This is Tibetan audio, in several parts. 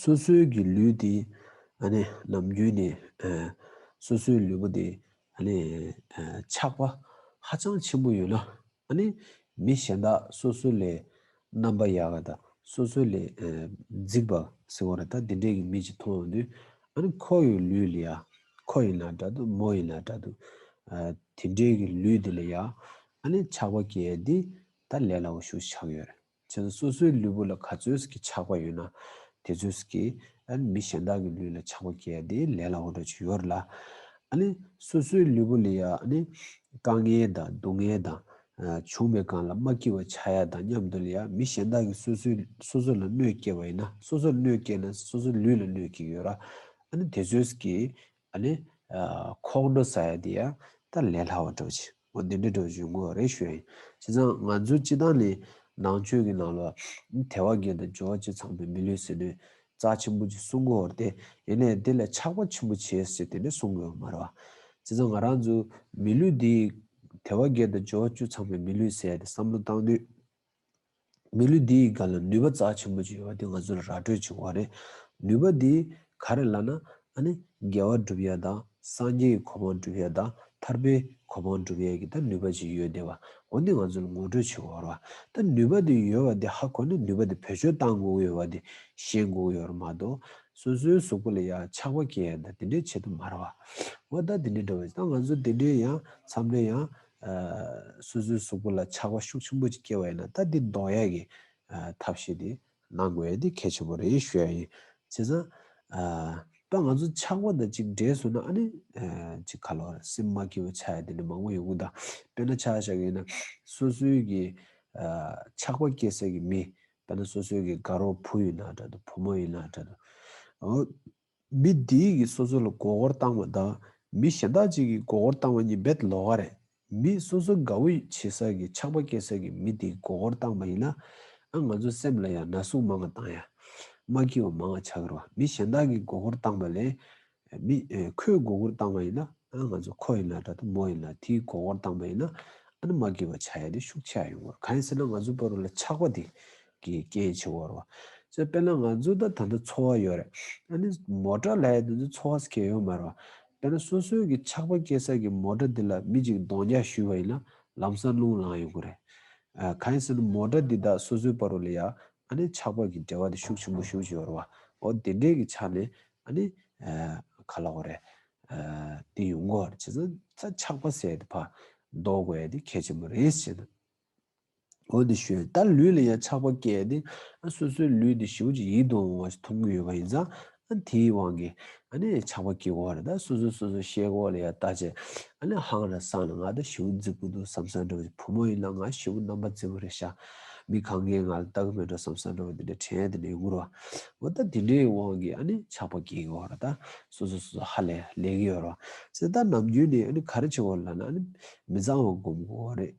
སོ་སོའི་གི་ལུས་དེ་ནམ་རྒྱུན་ནས་སོ་སོའི་ལུས་པོ་དེ་ཆགས་པ་ཧ་ཅང་ཆེན་པོ་ཡོད་ན། མི་གཞན་དག་སོ་སོ་ལས་རྣམ་པ་ཡག་བ་དང་སོ་སོ་ལས་རྫིག་པ་ཟེར་བ་རེད་ད་འདི་འདྲའི་གི་མི་ཅིག་མཐོང་ཡོང་དུས། ཁོ་ཡི་ལུས་ལ་ཡ། ཁོ་ཡིན་ལ་འདྲ་འདུག་མོ་ཡིན་ལ་འདྲ་འདུག་དེ་འདྲའི་གི་ལུས་དེ་ལ་ཡ། ཆགས་པ་སྐྱེས་ཡ་འདི་ད་ལས་སླ་བོ་ཞུ་ཆགས་ཡོད་རེད། མཚན་སོ་སོའི་ལུས་པོ་ལ་ག་ཚོད་ཀྱི་ཆགས་པ་ཡོད་ན་དེ་ཚོད་ཀྱི། མི་གཞན་དག་གི་ལུས་ལ་ཆགས་པ་སྐྱེ་བ་དེ་ལས་སླ་བོ་འགྲོ་ཆོད་ཡོད་རེད་ལ། སོ་སོའི་ལུས་པོ་ལས་ཡང་དཀའ་ངལ་དང་སྡུག་བསྔལ་དང། བྱུང་བའི་སྒང་ལ་མ་སྐྱིད་བ་ཆགས་ཡ་དང་མཉམ་དུ་ལ་ཡང་མི་གཞན་དག་གི་སོ་སོ་ལ་གནོད་སྐྱེལ་བ་ཡིན་ན་སོ་སོར་གནོད་སྐྱེལ་ན་སོ་སོའི་ལུས་ལ་གནོད་སྐྱེལ་ཡོད་ར། དེ་ཚོད་ཀྱི། ཨ་ནི། ཁོག་འགྲོ་ས་ཡ་འདི་ཡ་ད་ལས་སླ་བ་འགྲོ་ཅི། ངོ་འདི་འདྲའི་འགྲོ་བཞུད་མགོ་རེ་ཤོས་ཡིན། བྱས་ཙང་ང་ཚོའི་སྤྱི་བཏང་ནི་ནང་ཆོས་ཀྱི་ནང་ལོ། དེ་བ་འགན་དང་འབྱོར་བ་ཆེ་ཚང་པའི་མི་ལུས་ཟིན་ནོས། རྩ་ཆེན་པོ་ཅིག་གསུང་དགོས་བར་ཏེ། ཡིན་ནས་དེ་ལས་ཆགས་པ་ཆེན་པོ་བྱས་ཟེར་དེ་འདྲ་གསུང་དགོས་བ་མ་རེད་བ། བྱས་ཙང་ང་རང་ཚོའི་མི་ལུས་འདི། དེ་བ་འགན་དང་འབྱོར་བ་བཅུ་ཚང་པའི་མི་ལུས་ཟེར་ཏེ་བསམ་བློ་བཏང་དུས། མི་ལུས་འདི་ཡི་སྒང་ལ་ནུས་པ་རྩ་ཆེན་པོ་ཅིག་ཡོད་པ་དེ་ང་ཚོ་ལ་ར་སྤྲོད་བྱུང་བ་རེད། ནུས་པ་འདི་ག་རེད་ལ་ན། ཨ་ནི་རྒྱལ་བ་སྒྲུབ་ཡས་དང་སངས་རྒྱས་ཀྱི་གོ་འཕང་སྒྲུབ་ཡས་དང་ཐར་པའི་གོ་འཕང་སྒྲུབ་ཡས་ཀྱི་ད་ནུས་པ་ཅིག་ཡོད་དེ་བ་འོ་འདི་ང་ཚོ་ལ་ངོ་སྤྲོད་བྱེད་དགོས་ར་བ། ད་ནུས་པ་འདི་ཡོད་བ་འདི་ཧ་གོ་ནས་ནུས་པ་འདི་བེད་སྤྱོད་གཏང་དགོས་ཀྱི་ཡོད་བ་འདི་ཤེས་དགོས་ཀྱི་ཡོད་ར་མ་གཏོགས། སོ་སོའི་གཟུགས་པོ་ལ་ཡང་ཆགས་པ་སྐྱེ་ཡས་ད་དེ་འདྲས་བྱེད་དུ་མ་ར་བ། འོ་ད་དེ་འདྲས་འགྲོ་བས་ད་ང་ཚོ་དེ་འདྲས་ཡང་འཚམས་འདྲས་ཡང་སོ་སོའི་གཟུགས་པོ་ལ་ཆགས་པ་ཤུགས་ཆེན་པོ་ཅིག་སྐྱེ་བ་ཡིན་ན་ད་འདི་འདོགས་ཡས་ཀྱི་ཐབས་ཤེས་དེ་གནང་དགོས་ཡས་དེ་གལ་ཆེན་པོ་རེད་ཞུ་ཡས་ཡིན་བྱས་ཙང། ད་ང་ཚོ་ཆགས་པ་དང་ཅིག་འདྲེས་སོང་ན་ཨ་ནི་ཅིག་ག་ལོར་སེམས་མ་སྐྱིད་པོ་ཆགས་ཡས་དེ་འདྲ་མང་པོ་ཡོང་གི་འདུག་དཔེར་ན་ཆགས་ཞག་ཡིན་ན་སོ་སོའི་གི་ཆགས་པ་སྐྱེ་སའི་གི་མི་དཔེར་ན་སོ་སོའི་གི་དགའ་རོགས་བུ་ཡིན་ན་འདྲ་འདུག་བུ་མོ་ཡིན་ན་འདྲ་འདུག། མི་འདི་གིས་སོ་སོ་ལ་མགོ་སྐོར་བཏང་བ་དང་མི་གཞན་དག་ཅིག་གིས་མགོ་སྐོར་བཏང་བ་གཉིས་བེད་ལོག་ག་རེད། མི་སོ་སོ་དགའ་བོ་བྱེད་ས་ཀྱི་ཆགས་པ་སྐྱེ་ས་ཀྱི་མི་འདིས་མགོ་སྐོར་བཏང་བ་ཡིན་ན། ཨ་ང་ཚོའི་སེམས་ལ་ཡང་ན་ཟུག་མང་ང་བཏང་ཡ། མ་སྐྱིད་བ་མང་ང་ཆགས་ཀྱི་རོ། མི་གཞན་དག་གིས་མགོ་སྐོར་བཏང་བ་ལས། མི། ཁོས་མགོ་སྐོར་བཏང་བ་ཡིན་ན། ཨ་ང་ཚོ་ཁོ་ཡིན་ལ་དྲ་ཐུ་མོ་ཡིན་ལ་དེས་མགོ་སྐོར་བཏང་བ་ཡིན་ན། ཨ་ན་མ་སྐྱིད་བ་བྱ་ཡ་དེ་ཤུགས་ཆེ་ཡ་ཡོང་གི་རོ་གང་ཡིན་ཟེར་ན་ང་ཚོའི་བར་ལ་ཆགས་པ་དེ་གི་རྐྱེན་བྱས་བར་བ། ཚོད་དཔེར་ན་ང་ཚོ་ད་ད་འདི་འཚོ་བ་ཡོད་རེད། ཨ་ནི་མོ་ཏྲ་ལྷའི་དེ་ཚོ་འཚོ་བ་སྐྱེལ་ཡོད་མ་རེད་བ། དཔེར་ན་སོ་སོའི་གི་ཆགས་པ་སྐྱེལ་ས་གི་མོ་ཏྲ་འདི་ལ་མི་གཅིག་གདོང་རྒྱག་ཞུས་བ་ཡིན་ན་ལམ་སང་རླུང་ལངས་ཡོང་གི་རེད། གང་ཡིན་ཟེར་ན་མོ་ཏྲ་འདི་དག་སོ་སོའི་བར་རུ་ལ་ཡང་ཨ་ནི་ཆགས་པ་གི་འབྲེལ་བ་དེ་ཤུགས་ཆེན་པོ་ཞུགས་ཀྱི་ཡོད་རེད་བ། འོ་དེ་འདྲའི་གི་ཆ་ནས་ཨ་ནི་ག་ལ་འོ་རེད། དེ་ཡོང་གི་འོ་རེད་བྱས་ཙང་ད་ཆགས་པ་ཟེར་ཡ་དེ་བར་ཟློག་དགོས་ཡ་དེ་གལ་ཆེན་པོ་རེད་ཟེར། འོ་དེ་ཞོས་ད་ལུས་ལ་ཡང་ཆགས་པ་སྐྱེས་ཏེ། སོ་སོའི་ལུས་དེ་ཞིག་ཅིག་ཡིད་དུ་འོང་བ་ཞིག་མཐོང་གི་ཡོད་པ་ཡིན་ཙང། དེའི་དབང་གིས་ཆགས་པ་སྐྱེ་བར་ད་སོ་སོས་སོ་སོའི་ཤེལ་སྒོ་ལ་ཡང་ལྟ་བྱེད། ཧང་ར་སང་ལ་ང་ད་བྱིའུ་འཛིན་གི་འདུག་བསམ་སར་འགྲོ་བ་དེ་བུ་མོ་ཡིན་ལ་ང་བྱིའུ་རྣམ་པ་འཛིན་པ་རེད་ཤག་མི་གང་གས་ང་ལ་ལྟ་གི་མེད་འགྲོ་བསམ་སར་འགྲོ་བ་དེ་འདྲའི་དྲན་དེ་འདྲའི་འུར་བ། འོ་ད་དེ་འདྲའི་དབང་གིས་ཆགས་པ་སྐྱེ་གི་བར་ད་སོ་སོས་སོ་སོ་ཧ་ལས་ལས་གི་ཡོད་རོ། ཟེར་ད་ནམ་རྒྱུན་ནས་ག་རེ་བྱེད་དགོས་ལ་ན་མི་གཙང་བ་སྒོམ་དགོས་རེད།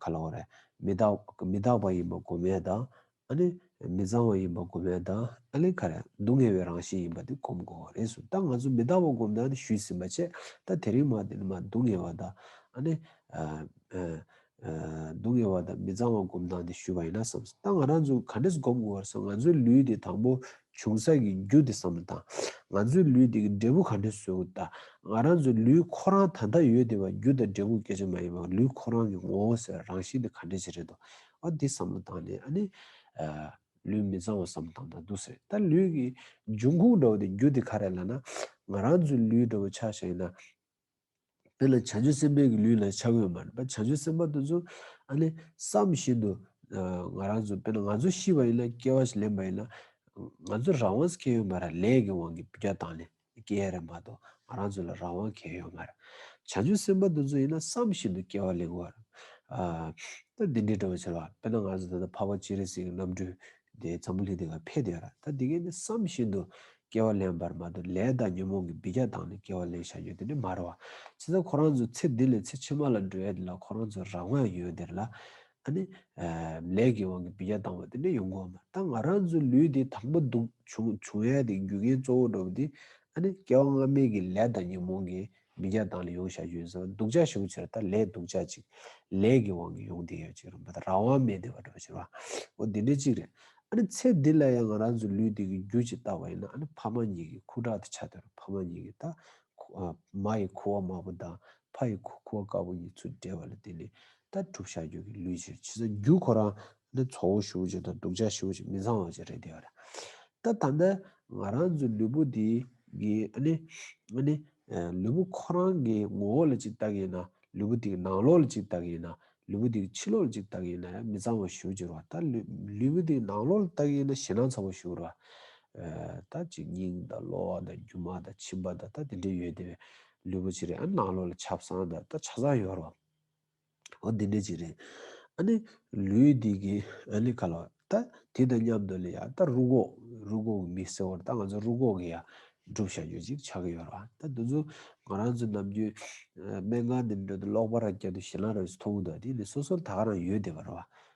ག་ལ་བ་རེད། མི་རྟག་མི་རྟག་པ་ཡིན་པ་གོ་མེད་དང། ཨ་ནི། མི་གཙང་བ་ཡིན་པ་གོ་མེད་དང་ཨ་ལས་ཁ་རེད། སྡུག་བསྔལ་བའི་རང་བཞིན་ཡིན་པ་དེ་གོམས་དགོས་བ་རེད་གསུངས། ད་ང་ཚོ་མི་རྟག་པ་གོམས་དང་ཞུས་ཟིན་པ་བྱས། ད་དེ་རིང་མ་དེ་ནི་མ་སྡུག་བསྔལ་བ་དང་ཨ་ནི། སྡུག་བསྔལ་བ་དང་མི་གཙང་བ་གོམས་དང་དེ་ཞུས་པ་ཡིན་ན་བསམས་སོང། ད་ང་རང་ཚོ་ག་འདྲས་གོམས་དགོས་བ་རེད་སོང་ང་ཚོའི་ལུས་དེ་དང་པོ་བྱུང་ས་ཀྱི་རྒྱུ་དེ་བསམ་བློ་དང། ང་ཚོའི་ལུས་དེ་གི་འབྲས་བུ་ག་འདྲའི་བཟོས་འོ་ད། ང་རང་ཚོའི་ལུས་ཁོ་རང་ད་ལྟ་ཡོད་དེ་བ་རྒྱུ་དང་འབྲས་བུ་སྐད་ཅིག་མ་ཡིན་པའི་ལུས་ཁོ་རང་གི་ངོ་བོ་ཟེར་བ་རང་བཞིན་དེ་ག་འདྲའི་ཆེ་རེད་དོ། ཨོ་དེ་བསམ་བློ་བཏང་ནས་ཨ་ནི། ལུས་མི་གཙང་བ་བསམ་བཏང་ད་འདུག་ཟེར་ད་ལུས་ཀྱི་འབྱུང་ཁུངས་འདྲ་བོ་དེ་རྒྱུ་དེ་ག་རེད་ལ་ན། ང་རང་ཚོའི་ལུས་འདྲ་བོ་ཆགས་ཤ་ཡིན་ན། དེ་ལ་བྱང་ཆུབ་སེམས་དཔའི་གི་ལུས་ལ་ཆ་བགོས་མ་རེད་པ་བྱང་ཆུབ་སེམས་དཔའ་དེ་ཚོ་ཨ་ནི་བསམ་བཞིན་དུ་ང་རང་ཚོ་དཔེར་ན་ང་ཚོ་ཤི་བ་ཡིན་ན་སྐྱེ་བ་ཞིག་ལེན་པ་ཡིན་ན་ང་ཚོ་རང་དབང་གལ་ཡོད་མ་རེད་ལས་ཀྱི་དབང་གིས་སྐྱེ་དང་ནི་སྐྱེ་ཡ་རེད་མ་གཏོགས་ང་རང་ཚོ་ལ་རང་དབང་གལ་ཡོད་མ་རེད། བྱང་ཆུབ་སེམས་དཔའ་དེ་ཚོ་ཡིན་ན་བསམ་བཞིན་དུ་སྐྱེ་བ་ལེན་དགོས་པ་རེད། ད་འདི་འདྲའི་འདྲ་བར་ཆེ་བ་དཔེར་ན་ང་ཚོ་ད་ལྟ་འཕགས་པ་སྤྱན་རས་གཟིགས་ཀྱི་རྣམ་སྤྲུལ་དེའི་ཚ་མོ་ལྷན་དེ་ལ་འཕེལ་དེ་ཡོད་ར་ད་དེ་གས་ནི་བསམ་བཞིན་དུ་སྐྱེ་བ་ལེན་པར་མ་དོ་ལས་དང་ཉོན་མོངས་ཀྱི་བི་རྒྱ་དང་ནི་སྐྱེ་བ་ལེན་བྱ་ཡོད་དེ་ནི་མ་རོ། ཚེ་ད་ཁོ་རང་ཚོ་ཚེ་འདི་ལས་ཚེ་ཕྱི་མ་ལ་འགྲོ་ཡས་དེ་ལ་ཁོ་རང་ཚོ་རང་དབང་ཡོད་དེར་ལ། ཨ་ནི། ལས་ཀྱི་དབང་གི་བི་རྒྱ་བཏང་བ་དེ་ནི་ཡོང་གོ་མ་ད་ང་རང་ཚོའི་ལུས་དེ་དང་པོ་འདུག་བྱུང་ཡས་དེ་རྒྱུ་རྐྱེན་གཙོ་བོ་འགྲོ་བ་དེ་ཨ་ནི་སྐྱེ་བ་སྔ་མའི་གི་ལས་དང་ཉོན་མོངས་གི་མི་བརྒྱ་དང་ལས་ཡོངས་བྱ་རྒྱུ་ཡིན་ཟེར་བ་སྡུག་ཅག་ཞུགས་ཕྱིར་ད་ལས་སྡུག་ཅག་ཅིག་ལས་ཀྱི་དབང་གིས་ཡོང་བསྡད་ཡོད་ཅིག་རུང་བ་དང་རང་དབང་མེད་བསྡད་པ་འགྲོ་ཕྱིར་བ་འོ་དེ་འདྲའི་གཅིག་རེད་ཨ་ནི་ཚེ་འདི་ལ་ཡང་ང་རང་ཚོའི་ལུས་འདི་གི་རྒྱུ་གཅིག་བཏགས་པ་ཡིན་ན་ཨ་ནི་ཕ་མ་གཉིས་ཀྱི་ཁུ་ཁྲག་དེ་ཆ་དོར་ཕ་མ་གཉིས་ཀྱི་ད་མ་ཡི་ཁུ་བ་དམར་པོ་དང་ཕ་ཡི་ཁུ་བ་དཀར་པོ་གཉིས་ཚུར་སྦྲེལ་བ་ལ་དེ་ནི་ད་གྲུབ་བྱ་རྒྱུད་ཀྱི་ལུས་ཕྱིར་ཕྱི་ས་རྒྱུ་ཁོ་རང་ནི་ཚོགས་དབུགས་ཞུ་བྱེད་དང་དུག་ཆ་ཞུ་བྱེད་མི་ཚང་བ་བཅས་རེད་དེ། ད་ད་ནི་ང་རང་ཚོའི་ལུས་པོ་འདི་གི་ནི་ནི་ལུས་པོ་ཁོ་རང་གི་ངོ་བོ་ལ་ཅིག་བལྟ་གི་ཡིན་ན་ལུས་པོ་འདི་གི་ནང་ལོགས་ལ་ཅིག་བལྟ་གི་ཡིན་ན་ལུས་པོ་འདི་གི་ཕྱི་ལོགས་ལ་ཅིག་བལྟ་གི་ཡིན་ན་ཡང་མི་ཚང་བ་ཞུ་བྱེད་རོགས་ད་ལུས་པོ་འདི་གི་ནང་ལོགས་ལ་བལྟ་གི་ཡིན་ན་ཞེད་སྣང་ཚ་བོ་ཞུ་རོགས། ད་གཅིག་སྙིང་དང་གློ་བ་དང་རྒྱུ་མ་དང་མཆིན་པ་དང་ད་དེ་འདྲས་ཡོད་དེ་བས་ལུས་པོ་ཕྱི་རེ་ཨ་ནི་ནང་ལོགས་ལ་ཆ་བསང་དང་ད་ཆ་བསང་ཡོད་རོགས། ཨོ་འདི་འདྲས་ཅིག་རེད། ཨ་ནི་ལུས་འདི་གི་ཨ་ལི་ཁ་ལོ། ད་དེ་དང་མཉམ་དུ་ལི་ཡ་ད་རུ་གོག་རུ་གོག་གི་མི་སེར་བོར་ད་ང་ཚོ་རུ་གོག་གི་ཡ་སྒྲུབ་བྱ་རྒྱུ་ཅིག་ཆགས་ཀྱི་ཡོད་རེད་བ། ད་འདི་ཚོ་ང་རང་ཚོ་ནམ་རྒྱུན་སྨན་ཁང་འདི་འདྲ་དུ་ལོག་པ་ར་སྐྱ་དུ་ཞིང་ལ་ར་བས་སུ་མཐོང་གི་འདུག་བ་དེ་ནི་སོ་སོར་ད་ག་རང་ཡོད་བསྡད་པ་རེད་བ།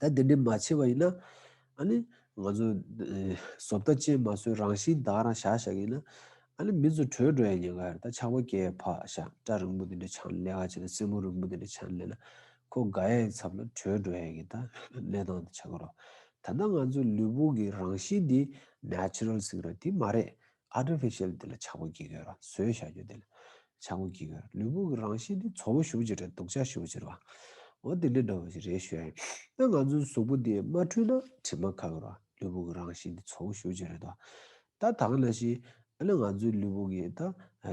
ད་འདི་འདྲས་མ་བྱས་པ་ཡིན་ན། ཨ་ནི། ང་ཚོས། བཟོ་ལྟ་ཅན་མ་བཟོས་རང་བཞིན་བདག་རང་བཞག་བཞག་ཡིན་ན། ཨ་ནི་མི་ཚོ་བྲོས་འགྲོ་ཡ་ཉེན་ཁ་རེད་ད་ཆགས་པ་སྐྱེ་བས་ཕག་ཞགས་སྐྲ་རིང་པོ་འདི་འདྲས་འཆང་ནས་ལས་ཀ་བྱས་ན་རྩེད་མོ་རིང་པོ་འདི་འདྲས་འཆང་ནས་ལས་ན། ཁོ་དགའ་ཡ་ཡི་ཚབ་ལ་བྲོས་འགྲོ་ཡ་ཡིན་ད་གནས་སྟངས་འདི་ཆགས་ཀྱི་རོ། ད་ལྟ་ང་ཚོའི་ལུས་པོ་གི་རང་བཞིན་འདི natural ཟིག་རེད་དེ་མ་རེད། Artificial དེ་ལ་ཆག་སྒོ་བགྱིད་དགོས། བཟོས་བྱ་རྒྱུ་དེ་ལ་ཆག་སྒོ་བགྱིད་དགོས། ལུས་པོ་གི་རང་བཞིན་དེ་ཚོར་བ་ཞུགས་ཕྱིར་རེད་དུག་ཆག་ཞུགས་ཕྱིར་བའོ། དེ་འདྲའི་འདྲ་བ་ཞིག་རེད་ཞུ། ད་ང་ཚོའི་གཟུགས་པོ་དེ་མ་འཁྲུལ་ན་དྲི་མ་ག་གེ་རེད། ལུས་པོ་གི་རང་བཞིན་དེ་ཚོར་བ་ཞུགས་ཕྱིར་རེད། ད་དག་ན་ཞིག་ཨ་ལ་ང་ཚོའི་ལུས་པོ་གི་ད་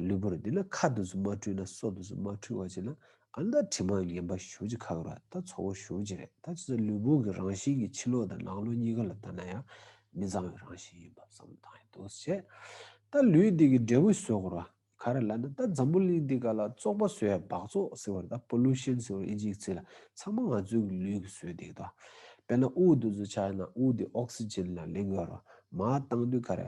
ལུས་པོ་རེད་དེ་ལ་ཁ་དུག་སུ་མ་འཁྲུལ་ན་སྲོག་དུག་སུ་མ་འཁྲུལ་བ་ཅིག་ལ་ཨ་མདའ་དྲི་མ་ངན་པ་ཞོ་གཅིག་ཁ་ཁར་ད་ཚོ་བོ་ཞོ་གཅིག་རེད་ད་ཅི་ཚེ་ལུས་ཕུང་གི་རང་བཞིན་གྱི་ཕྱི་ལོག་དང་ནང་ལོག་གཉིས་ཀ་ལ་ལྟ་ན་ཡང་མི་གཙང་བའི་རང་བཞིན་ཡིན་པ་བསམ་བློ་བཏང་ཡོད་འདུག་བྱས་ད་ལུས་འདི་གི་འབྲས་བུ་ཟོས་གོ་ར་ག་རེ་ལ་ན་ད་འཛམ་བུ་གླིང་འདི་ག་ལ་བཙོག་པ་ཟོས་འབག་བཙོག་ཟེར་བར་ད Pollution ཟེར་བ་ཨི་འཇིག་ཚེ་ལ་ཚང་མ་ང་ཚོའི་གི་ལུས་གི་ཟོས་འདེགས་ད་དཔེར་ན་དབུགས་འདུ་འཛུ་ཆགས་ན་དབུགས་འདི Oxygen ལ་ལེན་དགོས་རོ་མ་བཏང་དུས་ག་རེ།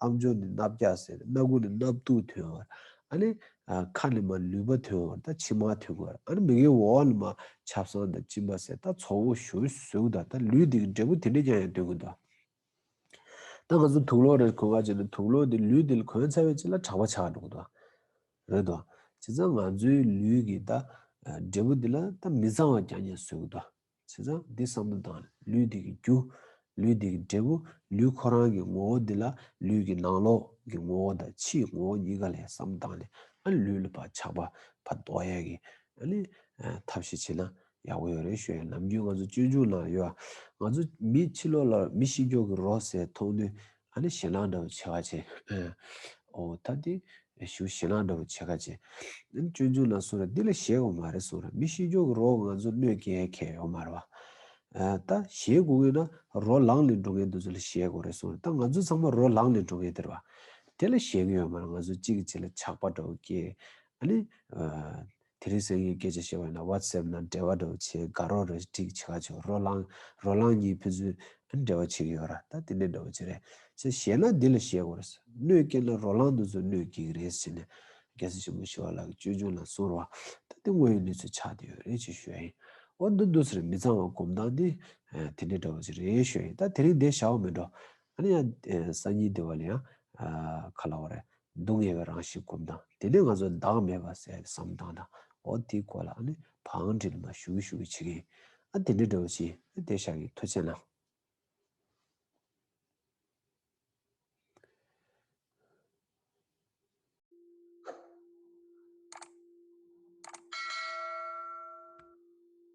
ཨམ་ཆུང་ནི་སྣབས་རྒྱག་ཟེར་རེད་སྣ་དགུ་ནི་སྣབས་བཏུག་ཐོན་བར་ཨ་ནི། ཁ་ནི་མ་ལུས་པ་ཐོན་བར་ད་ཕྱི་མ་ཐོན་དགོས་ར་ཨ་ནི་མི་གའི་འོག་ཨ་ནི་མ་ཆབ་སང་ད་གཅིན་པ་ཟེར་ད་ཚོགས་འོག་ཞོལ་གཟུགས་ད་ད་ལུས་དེ་གི་འབྲས་བུ་དེ་འདྲས་ཀྱང་ཡང་སྟོན་གི་འདུག་ད་ང་ཚོ་དུག་ལོག་རེད་གོན་ག་ཅིག་ན་དུག་ལོག་དེ་ལུས་དེ་ལ་གོན་ཚར་བས་ཅི་ལ་དྲག་པ་ཆགས་འགྲོ་གི་འདུག་རེད་དོ། བྱས་ཙང་ང་ཚོའི་ལུས་ཀྱི་ད་འབྲས་བུ་དེ་ལ་ད་མི་གཙང་བ་ཀྱང་ཀྱང་བཟོས་གི་འདུག་བྱས་ཙང་འདི་བསམ་བློ་དང་ལུས་འདི་གི་རྒྱུ། ལུས་འདི་གི་འབྲས་བུ་ལུས་ཁོ་རང་གི་ངོ་བོ་འདི་ལ་ལུས་ཀྱི་ནང་ལོགས་ཀྱི་ངོ་བོ་དང་ཕྱིའི་ངོ་བོ་གཉིས་ཀ་ལས་བསམ་བཏང་ནས་ཨ་ལུས་ལ་བ་ཆགས་པ་བ་ལྡོག་ཡས་ཀྱི་ཨ་ནི་ཐབས་ཤེས་བྱེད་ན་ཡག་པོ་ཡོད་རེད་ཞོའི་ནམ་རྒྱུན་ང་ཚོ་སྤྱོད་འཇུག་ནང་ཡོད་ཨ་ང་ཚོ་མི་ཕྱི་ལོགས་ལ་མི་ཤི་མགྱོགས་ཀྱི་རོ་ཟས་མཐོང་དུས་ཨ་ནི་ཞེ་གླང་འདྲ་བོ་ཆེ་ཁ་ཆེ། ཨོ་ད་དེ་ཞུ་ཞེ་གླང་འདྲ་བོ་ཆེ་ཁ་ཆེ། ཨ་ནི་ཅོལ་ཆུང་ལ་སོང་ར་འདི་ལ་ཞེད་གོ་མ་རེད་སོང་ར་མི་ཤི་རྒྱོ་གི་རོ་ང་ཚོ་གནོད་ཀྱི་ཨེ་ཁེ་ཡོ་མ་རེད་བ། ད་ཞེད་གོ་ངེས་ན་རོ་ལངས་ལས་འགྲོ་ངེས་འདུག་ཚོ་ལ་ཞེད་གོ་རེད་སོང་ར་ད་ང་ཚོ་ཚང་མ་རོ་ལངས་ལས་འགྲོ་ངེས་དེར་བ། དེ་ལ་ཞེད་གི་ཡོ་མ་རེད་ང་ཚོ་གཅིག་གི་གཅིག་ལ་ཆགས་པ་འདྲ་བོ་སྐྱེས། ཨ་ནི། དེ་རིང་སེམས་ཡོད་སྐད་ཆ་བཤད་བས་ན WhatsApp ན་འབྲེལ་བ་འདྲ་བོ་བྱེད་དགའ་རོགས་རེ་སྒྲིག་བྱེད་ག་ཆོག་རོ་ལངས་རོ་ལངས་གཉིས་ཕན་ཚུན་ཨེ་འབྲེལ་བ་བྱེད་ཀྱི་ཡོད་ར་ད་དེ་ནས་འདྲ་བོ་བྱེད་རེད་ཅེས་བཤད་ན་འདི་ལ་བཤད་དགོས་རེད་གནོད་སྐྱེལ་ན་རོ་ལངས་འདི་ཚོ་གནོད་སྐྱེལ་གྱི་རེད་ཟེར་ནས་རྒྱལ་སྲས་ཆེན་པོ་ཞི་བ་ལགས་ཀྱི་ཅོལ་ཆུང་ལ་གསུངས་རོགས་ད་དེ་དངོས་ཡོད་གནས་ཚུལ་ཆགས་བསྡད་ཡོད་རེད་ཅེས་ཤོད་ཨེ་ཡིན་འོ་འདི་འདུག་ཟེར་མི་གཙང་བ་གོམས་སྟངས་འདི་དེ་འདྲས་འདྲ་བོ་བྱེད་རེད་ཤོད་ཨེ་ཡིན་ད་དེ་རིང་བསྡད་བཞག་འོ་མི་འགྲོ་ཨ་ནི་ཡང་སང་ཉིན་བསྡད་པ་ལ་ཡང་ཁ་ལ་བ་རེད་སྡུག་བསྔལ་བའི་རང་བཞིན་བསྒོམ་དང། དེ་ནས་ང་ཚོ་བདག་མེད་པར་གསལ་བའི་བསམ་སྟངས་དང། འོ་དེའི་སྐོར་ལ་ནི་བང་འགྲིལ་མ་ཞུ་གི་ཞུ་གི་བྱེད་ཀྱིན། ཨ་དེ་འདྲའི་འདྲ་བོ་ཅི། དེ་ཤག་གི་མཐུ་ཆེ་ན།